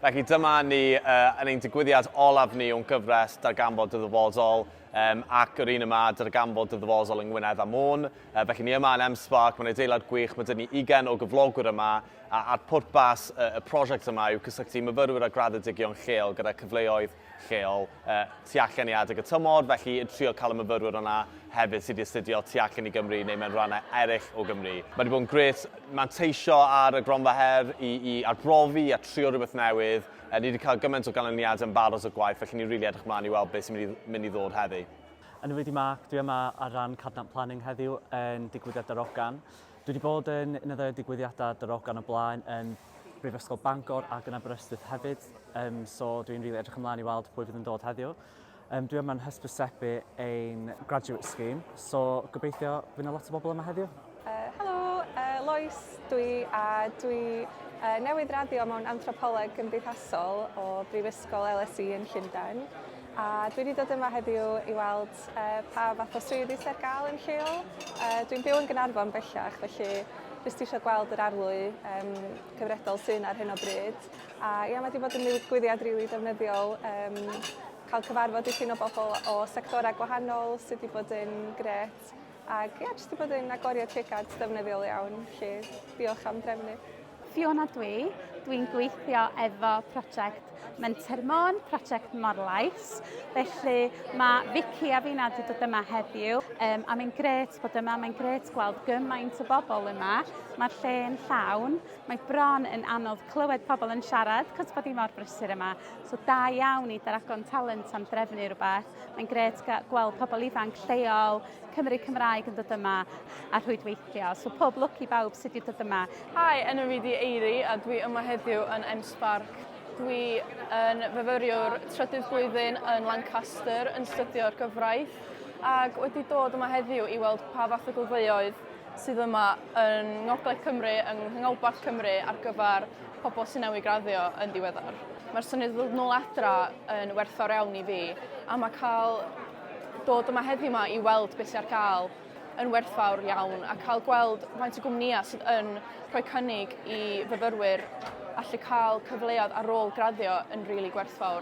Felly dyma ni yn ein digwyddiad olaf ni o'n gyfres Darganfod dy Ddyfodol um, ac yr un yma, Darganfod dy Ddyfodol yng Ngwynedd a Môn. Uh, felly ni yma yn M-Spark, mae'n adeilad gwych, mae dyn ni 20 o gyflogwyr yma a, a'r pwrpas y, y prosiect yma yw cysylltu myfyrwyr a graddedigion lleol gyda cyfleoedd lleol tu allan i adeg y tymor, felly yn trio cael y myfyrwyr yna hefyd sydd wedi astudio tu allan i Gymru neu mewn rhannau eraill o Gymru. Mae wedi bod yn gret manteisio ar y gronfa her i, i arbrofi a trio rhywbeth newydd. E, ni wedi cael gymaint o ganlyniadau yn barod o gwaith, felly ni'n rili really edrych mlaen i weld beth sy'n mynd i, mynd i ddod heddi. Yn wedi Mark, dwi yma ar ran Cadnant Planning heddiw yn digwyddiad Darogan. Dwi wedi bod yn un o ddau digwyddiadau Darogan o blaen yn Brifysgol Bangor ac yn Aberystwyth hefyd, um, so dwi'n rili really edrych ymlaen i weld pwy fydd yn dod heddiw. Um, dwi yma'n hysbysebu ein graduate scheme, so gobeithio fydd yna lot o bobl yma heddiw. Uh, helo, uh, Lois dwi a dwi uh, newydd raddio mewn anthropoleg gymdeithasol o Brifysgol LSE yn Llundain a dwi wedi dod yma heddiw i weld pa fath o swyddi sydd ar gael yn lleol. Uh, dwi'n byw yn Gynarfon bellach, felly jyst eisiau gweld yr arlwy um, cyfredol sy'n ar hyn o bryd. A ia, mae wedi bod yn ddigwyddiad rili really defnyddiol. Um, cael cyfarfod i ffyn o bobl o sectorau gwahanol sydd wedi bod yn gret. Ac ia, jyst 'di bod yn agoriad llygad defnyddiol iawn, felly diolch am drefnu. Fiona dwi, dwi'n gweithio efo prosiect Menter Môn, prosiect Morlais. Felly mae Vicky a fi'n wedi dod yma heddiw um, a mae'n gret bod yma, mae'n gret gweld gymaint o bobl yma. Mae'r lle yn llawn, mae bron yn anodd clywed pobl yn siarad cos bod hi mor brysur yma. So da iawn i Daragon Talent am drefnu rhywbeth. Mae'n gret gweld pobl ifanc lleol Cymru Cymraeg yn dod yma a rhwydweithio. So pob lwc i bawb sydd wedi dod yma. Hi, enw fi di Eiri a dwi yma heddiw yn M-Spark. Dwi yn fyfyriwr trydydd flwyddyn yn Lancaster yn studio'r gyfraith ac wedi dod yma heddiw i weld pa fath o gylfeoedd sydd yma yn Ngogledd Cymru, yng Nghanolbarth Cymru ar gyfer pobl sy'n newydd graddio yn ddiweddar. Mae'r syniad o ddod nôl adra yn werthfawr iawn i fi, a mae cael dod yma heddiw yma i weld beth sy'n ar gael yn werthfawr iawn a cael gweld faint o gwmnïau sydd yn rhoi cynnig i fyfyrwyr allu cael cyfleoedd ar ôl graddio yn rili really gwerthfawr.